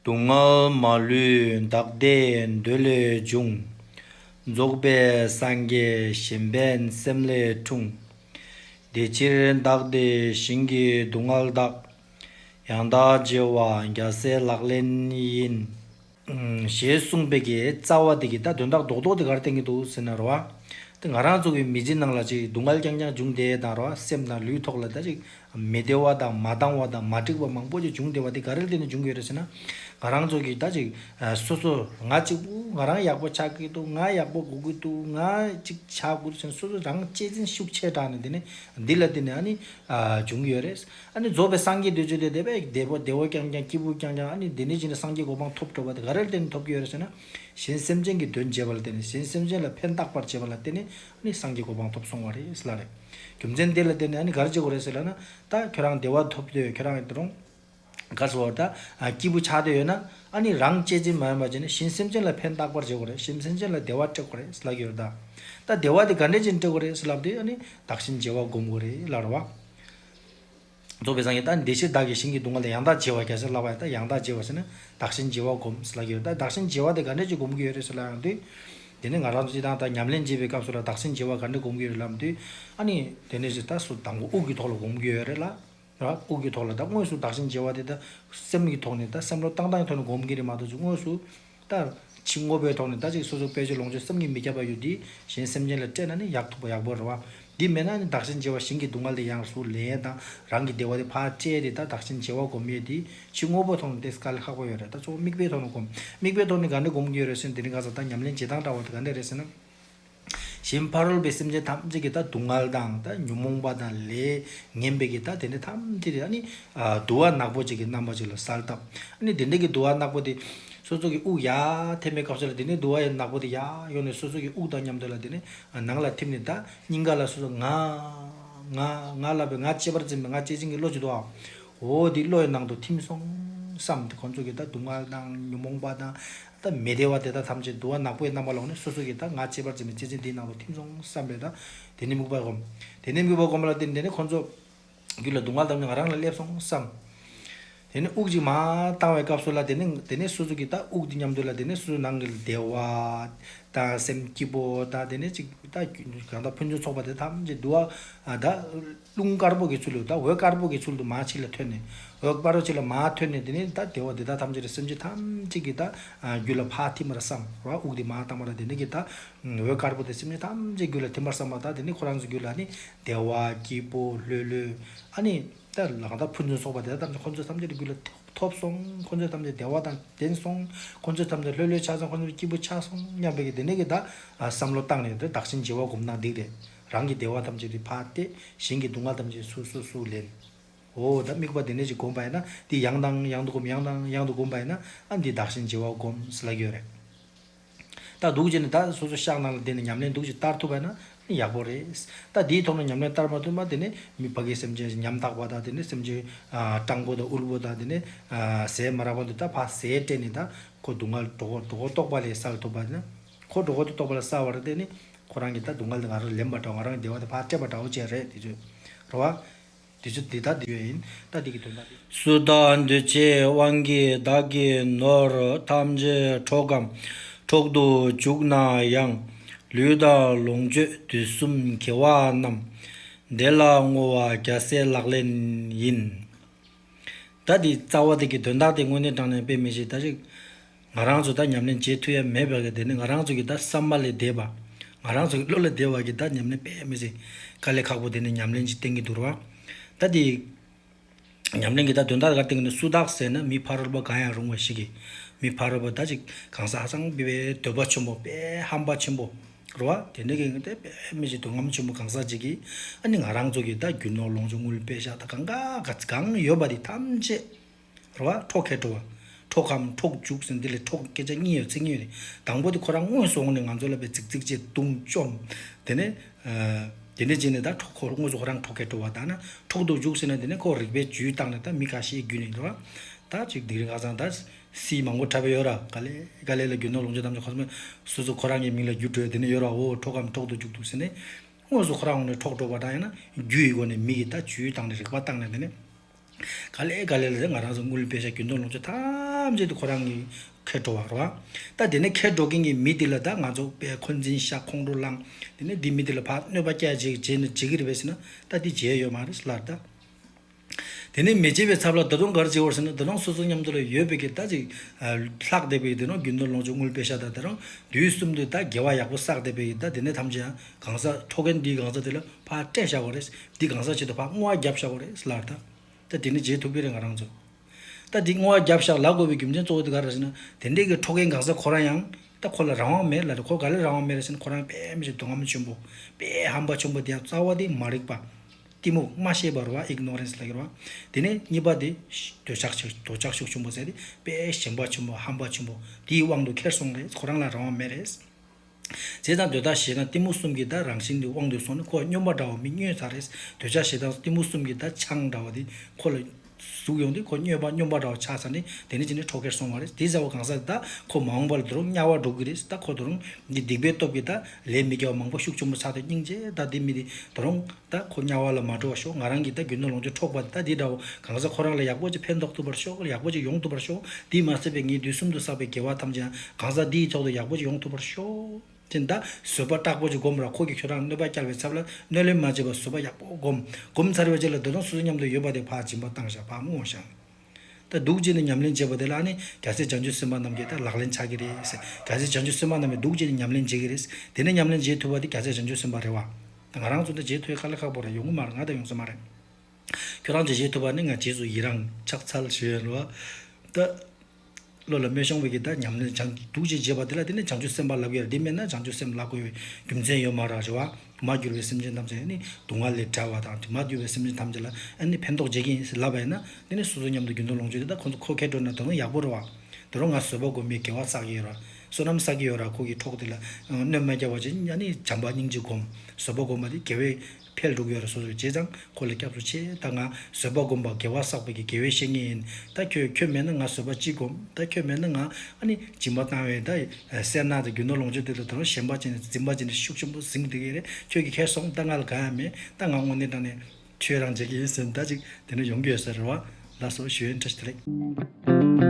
སྡུག་བསྔལ་མ་ལུས་འདག་ལྟའི་འདོད་ལས་འབྱུང། རྫོགས་པའི་སངས་རྒྱས་གཞན་ཕན་སེམས་ལས་འཁྲུངས། དེ་ཕྱིར་བདག་བདེ་ཞིང་གི་སྡུག་བསྔལ་དག། ཡང་དག་རྗེས་དབང་རྒྱ་སེ་ལག་ལེན་ཡིན། ཞེས་གསུངས་པའི་གི་རྩ་བ་དེ་གི་ད་དོན་དག་རྡོག་རྡོག་དེ་གར་བསྟན་གི་འདུག་ཟེར་ན་རོ། དེ་ང་རང་ཚོ་གི་མི་ཚེ་ནང་ལ་ཅིག་སྡུག་བསྔལ་རྐྱང་རྐྱང་འབྱུང་དེ་དང་རོ་སེམས་དང་ལུས་ཐོག་ལ་ད་ཅིག་མི་བདེ་བ་དང་མ་འདང་བ་དང་མ་འགྲིག་པ་མང་པོ་ཞིག་བྱུང་བདེ་བ་དེ་ག་རེ་ལྟོས་ནས་བྱུང་གི་ཡོད་རེད་ཟེར་ན། ང་རང་ཚོ་གིས་ད་ཅིག་སོ་སོ་ང་གཅིག་པུ་ང་རང་ཡག་པོ་ཆགས་ཀྱི་འདུག་ང་ཡག་པོ་སྒུག་གི་འདུག་ང་གཅིག་བྱ་དགོས་འདུག་ཟེར་ནས་སོ་སོ་རང་གཅེས་འཛིན་ཤུགས་ཆེ་དྲགས་ནས་དེ་ནས་འདི་ལ་བརྟེན་ནས་ཨ་ནི་བྱུང་གི་ཡོད་རེད། ཨ་ནི་རྫོགས་པའི་སངས་རྒྱས་འདོད་ཚུལ་དེ་དེ་བས་བདེ་བོ་བདེ་བོ་རྐྱང་རྐྱང་སྐྱིད་པོ་རྐྱང་རྐྱང་ཨ་ནི་དེ་འདྲའི་ཞིག་ནས་སངས་རྒྱས་གོ་འཕང་ཐོབ་འགྲོ་བ་དེ་ག་རེ་ལ་བརྟེན་ནས་ཐོབ་ཀྱི་ཡོད་རེད་ཟེར་ན། གཞན་སེམས་ཅན་གྱི་དོན་བྱེད་པ་ལ་བརྟེན་ནས་གཞན་སེམས་ཅན་ལ་ཕན་བཏགས་པར་བྱེད་པ་ལ་བརྟེན་ནས་ནི་སངས་རྒྱས་གོ་འཕང་ཐོབ་སོང་བ་རེད་ཟེར་ལ་རེད། རྒྱུ་མཚན་དེ་ལ་བརྟེན་ནས་ཨ་ནི་གར་བྱེད་དགོས་རེད་ཟེར་ལ་ན། ད་ཁྱོད་རང་བདེ་བ་ཐོབ་འདོད་ཡོད་ཁྱོད་རང་ཡོད་རུང། གར་བྱེད་པར་ད་སྐྱིད་པོ་ཆགས་འདོད་ཡོད་ན། ཨ་ནི་རང་གཅེས་འཛིན་མ་ཡོང་བར་བྱས་ནས་གཞན་སེམས་ཅན་ལ་ཕན་བཏགས་པར་བྱེད་དགོས་རེད་གཞན་སེམས་ཅན་ལ་བདེ་བ་སྤྲད་དགོས་རེད་ཟེར་ལབ་ཀྱི་རེད་ད། ད་བདེ་བ་དེ་ག་འདྲས་ཅན་སྤྲད་དགོས་རེད་ཟེར་ལབ་དེ་ཨ་ནི་བདག་གཞན་བརྗེ་བ་སྒོམ་དགོས་རེད་ལབ་རེད་བ། རྫོགས་པའི་སངས་རྒྱས་ལྟར་འདས་ཕྱིར་བདག་གིས་བྱིན་གྱིས་གདུང་བ་ལ་ཡང་དག་བྱེད་བར་གལ་སྲིད་བསླབ་པ་ཡང་དག་ཡང་དག་བྱེད་བར་ཟིན་ན་བདག་བྱིན་གྱིས་བ་བསྒོམས་ལགས་ཀྱི་ཡོད་ད་བདག་བྱིན་གྱིས་བ་དེ་ག་འདྲས་ཀྱིས་བསྒོམ་གྱི་ཡོད་རེད་ཟེར་ལ་ཡང་དུས་དེ་ནས་ང་རང་ཚོ་སྤྱི་དང་དག་ཉམས་ལེན་བྱེད་པའི་སྐབས་སུ་ལ་བདག་བྱིན་གྱིས་བ་ག་འདྲས་བསྒོམ་གྱི་ཡོད་རེད་ལབ་དུས་ཨ་ནི་དེ་ནས་བཟུང་ད་སུ་དང་པོ་དབུགས་ཀྱི་ཐོག་ལ་བསྒོམ་གྱི་ཡོད་རེད་ལ། དབུགས་ཀྱི་ཐོག་ལ་ད་དངོས་སུ་བདག་བྱིན་གྱིས་བ་དེ་ད་སེམས་ཀྱི་ཐོག་ནས་ད་སེམས་ལོ་ཏང་ཏང་གི་ཐོག་ནས་བསྒོམ་གྱི་རེད་མ་གཏོགས་ཚུལ་དངོས་སུ། ལྟར། ཕྱི་དངོས་པོའི་ཐོག་ནས་ཟླ་གཅིག་སོ་སོར་དཔེ་བྱད་ལོངས་སྤྱོད་སེམས་ཉིད་མི་ཁྱབ་པ་ཡོད་དེ། གཞན་སེམས་ཅན་ལ་སྤྲད་ན་ནི་ཡག་ཐུག་པ་ཡག་པོ་རེད་བ། འདི་མེད་ན་ནི་བདག་གཞན་བརྗེ་བ་ཞིང་གི་སྡུག་བསྔལ་དེ་ཡང་སུ་ལེན་ཡས་དང་རང་གི་བདེ་བ་དེ་ཕར་སྤྲད་དེ་ད་བདག་གཞན་བརྗེ་བ་སྒོམ་ཡས་དེ། ཕྱི་དངོས་པོའི་ཐོག་ནས་བལྟས་ས་ག་ལེ་ཁག་པོ་ཡོད་རེད་ད་གཙོ་བོ་དམིགས་པའི་ཐོག་ནས་སྒོམ། དམིགས་པའི་ཐོག་ནས་དགའ་འདོད་སྒོམ་གྱི་ཡོད་རེད་ཟེར་ན་དེ་རིང་ག་ས་ད་ཉམས་ལེན་བྱེད་སྟངས་འདྲ་བ་དེ་ག་འདྲ་རེད་ཟེར་ན། གཞན་ཕ་རོལ་པའི་སེམས་ཅན་ཐམས་ཅད་ཀྱི་སྡུག་བསྔལ་དང་ཉོན་མོངས་པ་དང་ལས་ངན་པའི་གྱི་དེ་འདྲ་ཐམས་ཅད་དེ་དུ་བ་ནག་པོ་ཅིག་གི་རྣམ་པ་ཅིག་ལ་གསལ་བཏབ། དེ་འདྲ་གི་དུ་བ་ནག་པོ་དེ་སོ་སོ་གི་དབུགས་ཡར་འཐེན་པའི་སྐབས་སུ་ལ་དེ་ནས་དུ་བ་ནག་པོ་དེ་ཡར་ཡོང་ནས་སོ་སོ་གི་དབུགས་དང་མཉམ་དུ་ལ་དེ་ནས་ནང་ལ་འཐིམས་ནས་དང་སྙིང་ག་ལ་སོ་སོ་ང། ང། ང་ལ་བའི་ང་གཅེས་པར་འཛིན་པའི་ང་གཅེས་འཛིན་གྱི་བློ་ཅིག་ཏུ་འམ། འོ་འདི་བློ་ཡི་ནང་དུ་འཐིམས་སོང་བསམ་སྟེ་ཁོང་ཚོ་གི་དུག་བསྔལ་དང་ཉོན་མོངས་པ་དང། སྟབས་མི་བདེ་བ་དེ་དག་ཐམས་ཅད་དུ་བ་ནག་པོའི་རྣམ་པ་ལོག་ནས་སོ་སོ་ཀྱི་དང་ང་གཅེས་པར་འཛིན་པའི་གཅེས་འཛིན་དེའི་ནང་དུ་ཐིམ་སོང་བསམ་པས་དང་དེ་ནས་དམིགས་པ་བསྒོམ། དེ་ནས་དམིགས་པ་བསྒོམ་པ་ལ་བརྟེན་ནས་ཁོ་ཚོ། རྒྱུད་ལ་སྡུག་བསྔལ་དམ་ཉམས་ང་རང་ལ་སླེབས་སོང་བསམ། དེ་ནས་དབུགས་གཅིག་མ། བཏང་བའི་སྐབས་སུ་ལ་དེ་ནས་དེ་ནས་སོ་སོ་ཀྱི་དང་དབུགས་འདི་མཉམ་འདུས་ལ་དེ་ནས་སོ་སོའི་ནང་གི་བདེ་བ། དང་སེམས་སྐྱིད་པོ་དང་དེ་ནས་གཅིག་དང་གང་དག་ཕན་ཚུན་ཚོགས་པ་དེ་ཐམས་ཅད་དུ་བ་དག། རླུང་དཀར་པོ་གའི་ཚུལ་ལས་ད་འོད་དཀར་པོ་གའི་ཚུལ་དུ་མ་ཕྱི་ལ་འཐོན་ནས། འོད་དཀར་པོ་ཕྱི་ལ་མ་འཐོན་ནས་དེ་ནས་ད་དེ་འོག་དེ་དག་ཐམས་ཅད་ཀྱི་སེམས་ཅན་ཐམས་ཅད་ཀྱི་ད་རྒྱུད་ལ་ཕར་ཐིམ་པར་བསམ་རོ། དབུགས་དེ་མ་བཏང་བ་ལ་དེ་ནས་ཀྱི་ད་འོད་དཀར་པོ་དེ་སེམས་ཅན་ཐམས་ཅད་རྒྱུད་ལ་ཐིམ་པར་བསམ་ལ་ད་དེ་ནས་ཁོ་རང་ཚོའི་རྒྱུད་ལ་ནི་བདེ་བ་སྐྱིད་པོ་ལྷོད་ལྷོད། ཨ་ནི། ད་ལག་ད་ཕུན་ཚུན་སོགས་པ་དེ་དག་ཐམས་ཅད་ཁོ་ཚོའི་ཐམས་ཅད་ཀྱི་རྒྱུད་ལ་ཐོབ་སོང་ཁོ་ཚོའི་ཐམས་ཅད་བདེ་བ་དང་ལྡན་སོང་ཁོ་ཚོའི་ཐམས་ཅད་ལྷོད་ལྷོད་ཆགས་སོང་ཁོ་ཚོའི་སྐྱིད་པོ་ཆགས་སོང་སྙམ་པའི་གྱི་དེ་ནས་ཀྱི་ད་བསམ་བློ་བཏང་ནས་དེ་བདག་བྱིན་གྱིས་བ་སྒོམ་ན་འགྲིག་རེད། རང་གི་བདེ་བ་ཐམས་ཅད་དེ་བར་ཏེ། གཞན་གྱི་སྡུག་བསྔལ་ཐམས་ཅད་སུ་སུ་སུ་ལེན། འོ་ད་དམིགས་པ་དེ་ནས་ཅིག་བསྒོམ་པ་ཡིན་ན་འདི་ཡང་དང་ཡང་དུ་བསྒོམ་ཡང་དང་ཡང་དུ་བསྒོམ་པ་ཡིན་ན་ཨ་འདི་བདག་གཞན་བརྗེ་བ་བསྒོམ་སླ་ཀྱོ་རེད། ད་འདུག་བྱས་ནས་ད་སོ་སོ་ཤག་ནང་ལ་འདས་ནས་ཉམས་ལེན་འདུག་ཅིག་བསྟར་ཐུབ་པ་ཡིན་ན་ཡག་པོ་རེད། ད་འདིའི་ཐོག་ནས་ཉམས་ལེན་བསྟར་མ་ཐུབ་ན་དེ་ནས་མི་ཕ་གའི་སེམས་ཅན་ཉམ་ཐག་པ་དང་དེ་ནས་སེམས་ཅན་སྤྲང་པོ་དང་དབུལ་པོ་དང་དེ་ནས་ཟས་མ་རག་པ་འདི་ད་ཕ་ཟས་སྤྲད་ནས་ད་ཁོ་སྡུག་བསྔལ་འགྲོ་གོ་འགྲོ་གོ་རྟོགས་པ་ལས་སེལ་ཐུབ་པ་ཡིན་ན། ཁོ་གྲོགས་ཁོ་ཐུགས་རྟོགས་པ་ལ་གསལ་བར་བརྟེན་ནས། ཁོ་རང་གིས་ད་སྡུག་བསྔལ་དེ་ང་རང་ལ་ལེན་པར་འདྲ་བ་ང་རང་གི་བདེ་བ་དེ་ཕར་སྤྲད་པར་འདྲ་བོ་ཅན་རེད་དེ་ཚོས་རེད། བ། དེ་ཚོས་འདི་ལྟར་འདི་ཡོད་ཡིན་ད་འདི་གི་དོན་དག་འདི། སུ་བདག་འདི་ཆེ་དབང་གིས་བདག་གི་ནོར་ཐམས་ཅད་འཕྲོག་གམ་འཕྲོག་ཏུ་བཅུག་ན་ཡང། ལུས་དང་ལོངས་སྤྱོད་དུས་གསུམ་གྱི་བ་རྣམས། བདེ་ལ་བསྔོ་བ་རྒྱ་སེ་ལག་ལེན་ཡིན། ད་དེའི་རྩ་བ་དེ་གི་དོན་དག་དེ་དངོས་གནས་དྲང་ནས་དཔེ་མི་ཤེས་ད་ཅིག། ང་རང་ཚོ་ད་ཉམས་ལེན་བྱེད་ཐུ་ཡ་མེད་བར་གི་དེ་ནི་ང་རང་ཚོ་གི་ད་བསམ་པ་ལས་འདས་པ། ང་རང་ཚོ་གི་བློ་ལས་འདས་བར་གི་ད་ཉམས་ལེན་དཔེ་མི་སྲིད། དཀའ་ལས་ཁག་པོ་དེ་ནི་ཉམས་ལེན་གྱི་སྟེང་གི་དུར་བ། ད་དེའི་ཉམས་ལེན་གི་ད་དོན་དག་ག་སྟེང་ནས་སུ་དག་ཟེར་ན་མི་ཕ་རོལ་པོ་གང་ཡང་རུང་བ་ཞིག་གིས། མི་ཕ་རོལ་པོ་ད་ཅིག་གང་ཟག་ཧ་ཅང་བི་བའི་འདོད་པ་ཆེན་པོ་དཔལ་ཧམ་པ་ཆེན་པོ། རེད་བ། དེ་འདྲ་གི་ཏེ་དཔེ་མི་བྱེད་དུ་ངམ་ཆེན་མོ་གང་ཟག་གཅིག་གིས་ཨ་ནི་ང་རང་ཚོ་གི་ད་རྒྱུ་ནོར་ལོངས་སྤྱོད་དངུལ་དཔེ་ཤག་ད་གང་ག་ག་གང་ཡོད་པ་དེ་ཐམས་ཅད། རེད་བ། འཕྲོག་མཁས་འགྲོ་བ། འཕྲོག་གམ་འཕྲོག་འཇུག་ཟེར་འདི་ལས་འཕྲོག་སྐད་ཆ་གཉིས་ཡོད་ཚིག་གཉིས་ཡོད་དེ། དང་པོ་དེ་ཁོ་རང་དངོས་སུ་འོངས་ནས་ང་ཚོ་ལ་དཔེ་བརྩིགས་བརྩིགས་རྗེས་བརྡུང་བཅོམ། དེ་ནས། དེ་འདྲས་རྗེས་ནས་ད་འཕྲོག་ཁོ་དངོས་སུ་ཁོ་རང་འཕྲོག་མཁས་འགྲོ་བ་ད་ན་འཕྲོག་འདུག་འཇུག་ཟེར་ནས་དེ་ནས་ཁོ་རིག་པའི་ཇུས་བཏགས་ནས་ད་མི་ག་ཤེད་རྒྱུད་ནས་རེད་བ། ད་ཅིག་དིང་རི་ཁ་ཚང་ད། སིའི་མང་པོ་འཁྲབ་པའི་ཡོ་ར་ག་ལེ་ག་ལེ་ལ་རྒྱུ་ནོར་ལོངས་སྤྱོད་ཐམས་ཅད་ཁོ་སྨོས། སོ་སོ་ཁོ་རང་གི་མིང་ལ་རྒྱུ་བྲོས་དེ་ནས་ཡོ་ར་འོ་འཕྲོག་གམ་འཕྲོག་ཏུ་འཇུག་ཏུ་ཟིན་ནས། དངོས་སུ་ཁོ་རང་འོངས་ནས་འཕྲོག་འགྲོ་བ་དང་ཡང་ན་རྒྱུ་ཡི་སྒོ་ནས་མི་ཡི་ད་ཇུས་བཏང་ནས་རིག་པ་བཏང་ནས་དེ་ནས། ག་ལེ་ག་ལེ་ལ་དེ་ང་རང་སོ་དངུལ་དཔེ་ཤ་རྒྱུ་ནོར་ལོངས་སྤྱོད་ཐམས་ཅད་དེ་ཁོ་རང་གི་ཁེར་འགྲོ་བར་རོ། ད་དེ་ནས་ཁེར་འགྲོ་མཁན་གྱི་མི་དེ་ལ་ད་ང་ཚོ་པས་ཁོ་འཛིན་ཤག་ཁོང་ཁྲོ་བསླངས། དེ་ནས་འདི་མི་དེ་ལ་ཕ་གནོད་པ་སྐྱལ་བྱེད་ཀྱི་རྗེས་ནས་འཇིག་གི་རེད་བས་ཟེར་ན་ད་འདི་བྱས་ཡོད་མ་རེད་ལར་ད། དེ་ནས་མེ་ལྕེ་བའི་ཚབ་ལ་ད་དུང་གར་བྱེད་བར་ཟེར་ན་ད་དུང་སོ་སོ་མཉམ་དུ་ལ་ཡོད་པའི་གི་ད་ཅིག། ལྷག་བསྡད་པའི་གི་དེ་ནོ་རྒྱུན་དུ་ལོངས་སྤྱོད་དངུལ་སྤེལ་ཤ་ད་དེ་རང་དུས་གསུམ་དུ་ད་དགེ་བ་ཡག་པོ་བསགས་བསྡད་པའི་གི་ད་དེ་ནས་ཐམས་ཅད་ཡང་གང་ཟག་ཁྲོ་མཁན་འདིས་གང་ཟག་དེ་ལ་ཕ་སྤྲད་བཞག་པ་རེད་འདིས་གང་ཟག་ཆེད་དུ་ཕ་བསྔོ་བ་བརྒྱབ་བཞག་པ་རེད་ལར་ད། ད་དེ་ནས་རྗེས་ཐུག་པའི་རེད་ང་རང་ཚོ། ད་དེ་བསྔོ་བ་བརྒྱབ་བཞག་ལ་དགོས་པའི་རྒྱུ་མཚན་གཙོ་བོ་དེ་ག་རེད་ཟེར་ན་དེ་འདྲའི་གི་ཁྲོ་མཁན་གང་ཟག་ཁོ་རང་ཡང་ད་ཁོ་ལ་རང་དབང་མེད་ལ་ད་ཁོ་ག་ལ་རང་དབང་མེད་རེད་ཟེར་ན་ཁོ་རང་དཔེ་མི་ཆེ་སྡུག་ཧམ་ཆེན་པོ་དཔེ་ཧམ་པ་ཆེན་པོ་དེ་ཡང་རྩ་བ་དེ་མ་རིག་པ། གཏི་མུག་སྨྲ་ཤེས་པར་བ Ignorance ལ་གྱུར་པ། དེ་ནས་གཉིས་པ་དེ། འདོད་ཆགས་ཆེ་འདོད་ཆགས་ཤུགས་ཆེན་པོ་ཟེར་ཏེ་དཔེ་ཞན་པ་ཆེན་པོ་ཧམ་པ་ཆེན་པོ་དེའི་དབང་དུ་ཁྱེར་སོང་རེད་ཁོ་རང་ལ་རང་དབང་མེད་རེད། ཟས་དང་འདོད་ཆགས་ཞེ་སྡང་གཏི་མུག་གསུམ་གྱི་དག་རང་བཞིན་དེ་དབང་དུ་སོང་ནས་ཁོ་སྨྱོན་པ་འདྲ་བོ་མི་སྨྱོན་ཚར་རེད་འདོད་ཆགས་ཞེ་སྡང་གཏི་མུག་གསུམ་གྱི་དག་ཆང་འདྲ་བོ་དེ་ཁོ་ལ། གཟུགས་ཡོང་དུས་ཁོ་སྨྱོས་པ་སྨྱོན་པ་འདྲ་བ་ཆགས་ཚར་ནས་དེ་ནས་ཇི་ནས་འཕྲོག་གེར་སོང་བ་རེད་དེ་ཟེར་བ་གང་ཟག་དེ་དག་ཁོ་མ་འོངས་པར་དུ་རུང་དམྱལ་བར་འགྲོ་གི་རེད་ད་ཁོ་དུ་རུང་འདི་སྡིག་པའི་སྟོབས་ཀྱིས་ད་ལས་མི་རྒྱ་བ་མང་པོ་ཤུགས་ཆུང་པོ་ཆགས་ཐུབ་སྙིང་རྗེ་ད་འདི་མི་དེ་དུ་རུང་ད་ཁོ་དམྱལ་བ་ལ་མ་འགྲོ་བར་ཤོག་ང་རང་གིས་ད་རྒྱུ་ནོར་ལོངས་སྤྱོད་འཕྲོག་པ་དེ་དག་འདི་འདྲ་བོ་གང་ཟག་ཁོ་རང་ལ་ཡག་པོ་ཅིག་ཕན་ཐོགས་ཐུབ་པར་ཤོག་ཡག་པོ་ཅིག་ཡོང་ཐུབ་པར་ཤོག་འདིས་མ་ཟད་པའི་ངའི་དུས་གསུམ་དུ་བསགས་པའི་དགེ་བ་ཐམས་ཅད་ཡང་གང་ཟག་འདིའི་ཐོག་ཏུ་ཡག་པོ་ཅིག་ཡོང་ཐུབ་པར་ཤོག། དེ་འདྲ་བཟོད་པ་དྲག་པོ་ཅིག་བསྒོམས་ར་ཁོག་གི་ཁྱོད་རང་གནོད་པ་བསྐྱལ་བའི་ཚབ་ལ་གནོད་ལན་མ་བྱེད་པར་བཟོད་པ་ཡག་པོ་བསྒོམ། བསྒོམ་ཚར་བའི་རྗེས་ལ་སྡོད་དང་སོ་སོའི་མཉམ་དུ་ཡོད་པ་དེ་བག་སྦྱིན་པ་བཏང་བཞག་བག་བསྔོ་བཞག། ད་སྡུག་ཅེས་ནས་ཉམས་ལེན་བྱེད་པ་དེ་ལ་ནི་རྒྱ་ཚད་སྦྱང་ཆུ་སེམས་དཔའ་རྣམས་ཀྱིས་ད་ལག་ལེན་ཆགས་ཀྱི་རེད། རྒྱ་ཚད་སྦྱང་ཆུ་སེམས་དཔའ་རྣམས་ཀྱིས་སྡུག་ཅེས་ནས་ཉམས་ལེན་བྱེད་ཀྱི་རེད། དེ་ནས་ཉམས་ལེན་བྱེད་ཐུབ་པ་དེ་རྒྱ་ཚད་སྦྱང་ཆུ་སེམས་དཔའ་རེད་བ། ད་ང་རང་ཚོ་འདི་བྱེད་ཐུབ་ཡ་ཁ་ལ་ཁག་པོ་རེད་ཡོང་གི་མ་རེད་ང་ད་ཡོང་ས་མ་རེད། ཁྱོད་རང་ཚོས་བྱེད་ཐུབ་པ་ནི་ང་བྱེད་སུ་ཡི་རང་ཕྱག་འཚལ་ཞུ་ཡོད་རེད་བ། ད། བློ་ལ་སྨོན་ཤང་བོད་ཀྱི་དག་ཉམས་ལེན་བྱང་གི་འདུག་ཅེས་བརྗོད་པ་དེ་ལ་བརྟེན་ནས་བྱང་ཆུབ་སེམས་དཔའ་ལབ་ཡེར་འདི་སྨྲས་ན་བྱང་ཆུབ་སེམས་བླ་དགོས་པའི་རྒྱུ་མཚན་ཡོད་མ་རང་རེད་བ། མ་གྱུར་བའི་སེམས་ཅན་ཐམས་ཅད་ནི་སྡུག་བསྔལ་ལས་བྲལ་བ་དང་དྲི་མ་གྱུར་བའི་སེམས་ཅན་ཐམས་ཅད་ལ་ཨ་ནི་ཕན་ཐོགས་རྗེས་ཀྱི་ཡིན་ཟེར་ལབ་པ་ཡིན་ན་འདི་ནི་སོ་སོའི་མཉམ་དུ་རྒྱུན་དུ་ལོངས་སྤྱོད་དེ་དག་ཁོ་ཚོ་ཁོ་ཁས་སྤྲོ་ན་དོན་ཡག་པོ་རེད་བ། དེ་རུ་ང་བཟོད་པ་དགོས་མེད་དགེ་བ་བསགས་ཀྱི་ཡོད་ར། བསོད་ནམས་བསགས་ཀྱི་ཡོད་ར་ཁོ་གི་གྲོགས་དེ་ལ་གནོད་མ་རྒྱབ་བ་བྱས་ན་ནི་བྱམས་པ་སྙིང་རྗེ་སྒོམ། བཟོད་པ་སྒོམ་པ་དེ་དགེ་བའི། འཕེལ་འགྲོ་གི་ཡོད་རེད་སོ་སོས་བྱས་ཙང་ཁོ་ལ་སྐྱབས་སུ་མཆི་ད་ང་བཟོད་པ་སྒོམ་པ་དགེ་བ་བསགས་པ་གི་དགེ་བའི་བཤེས་གཉེན་ཡིན་ད་ཁྱོད་ཁྱོད་མེད་ན་ང་བཟོད་པ་ཅི་སྒོམ་ད་ཁྱོད་མེད་ན་ང་ཨ་ནི་སྦྱིན་པ་བཏང་བས་ད་སེར་སྣ་དང་རྒྱུ་ནོར་ལོངས་སྤྱོད་དེ་དག་དང་གཞན་པ་ཅི་ནས་འཛིན་པ་ཅི་ནས་ཤུགས་ཆེན་པོ་ཟིན་གི་རེད་ཁྱོད་ཀྱི་ཁེ་སོང་ད་ང་ལ་གང་ཡང་མེད་ད་ང་དངོས་གནས་དྲང་ནས། ཁྱོད་རང་བྱེད་ཀྱི་ཡིན་ཟེར་ན་ད་ཅིག་དེ་ནས་ཡོང་གི་ཡོད་ཟེར་རེད་བ་ལགས་སོ་ཞུ་ཡོན་ཁྲ་ཤིས་ལེགས།